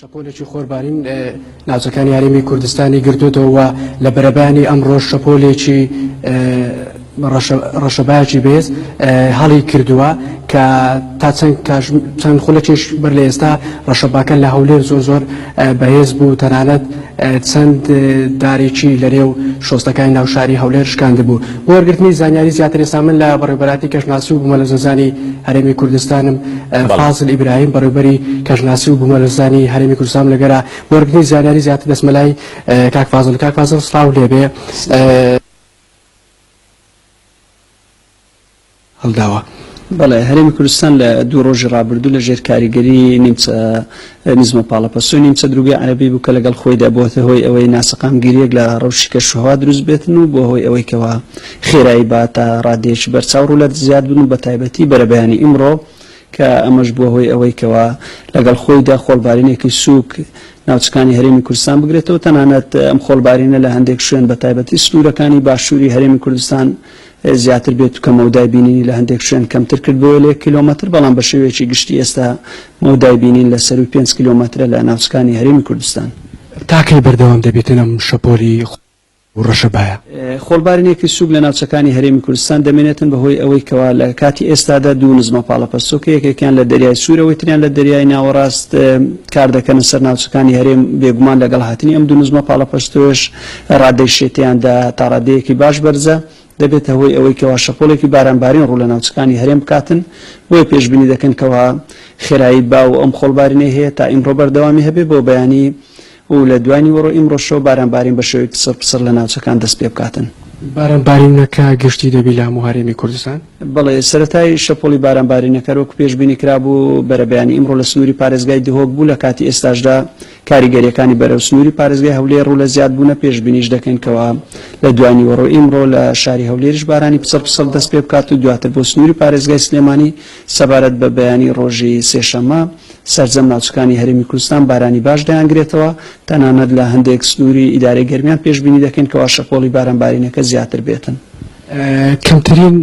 شەپۆلێکی خۆربارین ناوچەکانی هەرێمی کوردستانی گرتوێتەوە و لە بەرەبانی ئەمڕۆ شەپۆلێکی ڕەشەباکی بێز هەڵی کردووە کە تا چەند چەند خولەکیش بەر لە ئێستا ڕەشەباکە لە هەولێر زۆر زۆر بەهێز بوو تەنانەت چەند دارێکی لەرێو شۆستەکانی ناو شاری هەولێر شکاندبوو بۆ وەرگرتنی زانیاری زیاتر ێسا من لە بەڕێبەراتی کەشناسی و بوومەلە زەزانی هەرێمی کوردستانم فازل ئیبراهیم بەڕێبەری کەشناسی و بوومەلەزانی هەرێمی کوردستان لەگەرا بۆرگنی زانیاری زیاتر دەسمەلای کاک فازل کاک فازل سلااو لێبێ هەڵداوە. بەڵێ هەرێمی کوردستان لە دوو ڕۆژی ڕابردوو لە ژێر کاریگەری نیمچە نزمە پاڵەپەستۆی نیمچە دروگەی عەرەبی بوو کە لەگەڵ خۆیدا بۆتە هۆی ئەوەی ناسەقامگیریەک لە ڕەوشی کەشوهەوا دروست بێتن و بۆ هۆی ئەوەی کەوا خێرایی با تا ڕادێکی بەرچاو ڕوو لە زیاد بن و بە تایبەتی بەرەبەیانی ئیمڕۆ کە ئەمەش بووە هۆی ئەوەی کەوا لەگەڵ خۆیدا خۆڵبارینێکی سووک ناوچەکانی هەرێمی کوردستان بگرێتەوە تەنانەت ئەم خۆڵبارینە لە هەندێک شوێن بە تایبەتی سنوورەکانی باشووری هەرێمی کوردستان زیاتر بێت و کە مەودای بینینی لە هەندێک شوێن کەمتر کردبووە لە یەک کیلۆمەتر، بەڵام بە شێوەیەکی گشتی ئێستا مەودای بینین لە سەرووی پێنج کیلۆمەترە لە ناوچەکانی هەرێمی کوردستان. تا کەی بەردەوام دەبێتن ئەم شەپۆلی خۆڵ و ڕەشەبایە؟ خۆڵبارینێکی سووک لە ناوچەکانی هەرێمی کوردستان دەمێنێتن بەهۆی ئەوەی کەوا لە کاتی ئێستادا دوو نزمە پاڵەپەستۆکە یەکێکیان لە دەریای سوور ئەوەی تریان لە دەریای ناوەڕاست کار دەکەنە سەر ناوچەکانی هەرێم، بێگومان لەگەڵ هاتنی ئەم دوو نزمە پاڵەپەستۆیەش، ڕادەی شێتیان دا تاڕادەیەکی باش بەرزە، دەبێتە هۆی ئەوەی کەوا شەپۆڵێکی بارانبارین ڕوو لە ناوچەکانی هەرێم بکاتن، بۆیە پێشبینی دەکەن کەوا خێرایی با و ئەم خۆڵبارینەی هەیە تا ئیمڕۆ بەردەوامی هەبێ بۆ بەیانی و لە دوای نیوەڕۆی ئیمڕۆشەوە بارانبارین بە شێوەیەکی سڕپسڕ لە ناوچەکان دەست پێ بکاتن. بارانبارینەکە گشتی دەبی لە هەموو هەرێمی کوردستان؟ بەڵێ، سەرەتای شەپۆڵی بارانبارینەکە وەکو پێشبینی کرابوو بەرەبەیانی ئیمڕۆ لە سنووری پارێزگای دهۆک بوو، لە کاتی ئێستاشدا کاریگەرییەکانی بەرەو سنووری پارێزگای هەولێر و لە زیادبوونە پێشبینیش دەکەین کەوا لە دوانیوەڕۆی ئیمڕۆ لە شاری هەولێریش بارانی پچڕ پچڕ دەست پێ بکات و دواتر بۆ سنووری پارێزگای سلێمانی سەبارەت بە بەیانی ڕۆژی سێشەممە سەرجەم ناوچەکانی هەرێمی کوردستان بارانی باش دەیانگرێتەوە تەنانەت لە هەندێک سنووری ئیدارەی گەرمیان پێشبینی دەکەین کەوا شەپۆڵی بارانبارینەکە زیاتر بێتن کەمترین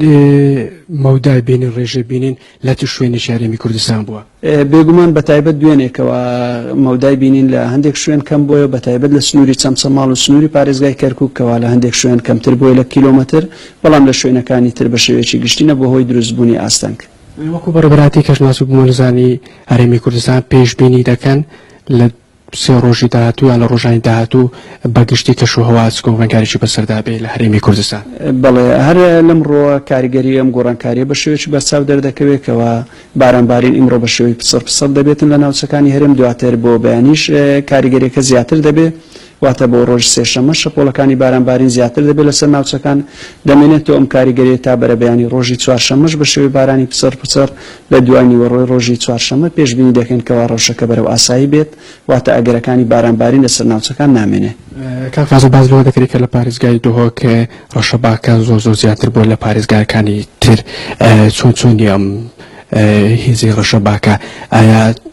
مەودای بینی ڕێژەی بینین لە چ شوێنێکی هەرێمی کوردستان بووە؟ بێگومان بەتایبەت دوێنێکەوە مەودای بینین لە هەندێک شوێن کەم بۆیە بەتایبەت لە سنووری چەمچەماڵ و سنووری پارێزگای کەرکک کەوا لە هەندێک شوێن کەمتر بۆی لە کیلۆمەتر بەڵام لە شوێنەکانی تر بە شێوەیەکی گشتی نەبووە هۆی دروستبوونی ئاستەنگ. وەکو بەڕێوبەراتی کەشناس و بومەلەرزانی هەرێمی کوردستان پێشبینی دەکەن لە سێ ڕۆژی داهاتوو یان لە ڕۆژانی داهاتوو بە گشتی کەش و هەوا چ گۆڕانکاریی بەسەردا بێ لە هەرێمی کوردستان؟ بەڵێ، هەر لەم ڕووە کاریگەریی ئەم گۆڕانکارییە بە شێوەیەکی بەرچاو دەردەکەوێ کەوا بارانبارین ئیمڕۆ بە شێوەی پسڕ پسڕ دەبێتن لە ناوچەکانی هەرێم، دواتر بۆ بەیانیش کاریگەرییەکە زیاتر دەبێ، واتە بۆ ڕۆژی سێشەممە شەپۆڵەکانی بارانبارین زیاتر دەبێ لەسەر ناوچەکان، دەمێنێتەوە ئەم کاریگەرییە تا بەرەبەیانی ڕۆژی چوارشەممەش بە شێوەی بارانی پسڕ پسڕ لە دوانیوەڕۆی ڕۆژی چوارشەممە پێشبینی دەکەین کەوا ڕەوشەکە بەرەو ئاسایی بێت، واتە ئەگەرەکانی بارانبارین لەسەر ناوچەکان نامێنێ. کاک فازڵ باس لەوە دەکرێ کە لە پاریزگای دهۆک ڕەشەباکە زۆر زۆر زیاتر بووە لە پاریزگاکانی تر، چۆن چۆنی ئەم هێزی ڕەشەباکە؟ ئایا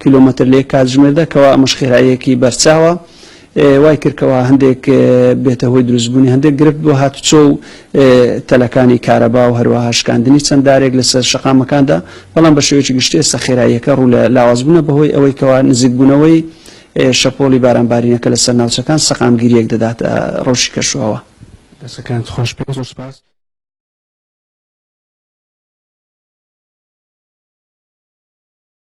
کیلۆمەتر لەیەک کاتژمێردا کەوا ئەمەش خێراییەکی بەرچاوە وای کردکەوە هەندێک بێتە هۆی دروستبوونی هەندێک گرفت بۆ هاتوچۆ و تەلەکانی کارەبا و هەروەها شکاندنی چەنددارێک لەسەر شقامەکاندا بەڵام بە شێوەیەکی گشتێ سەخێراییەکە ڕوو لە لاوازبوونە بەهۆی ئەوەی کەوا نزیکبوونەوەی شەپۆلی بارانبارینەکە لەسەر ناوچەکان سەقامگیریەک دەدات ڕۆژی کەشوەوە دەسەکان خۆش پێ زۆر سپاس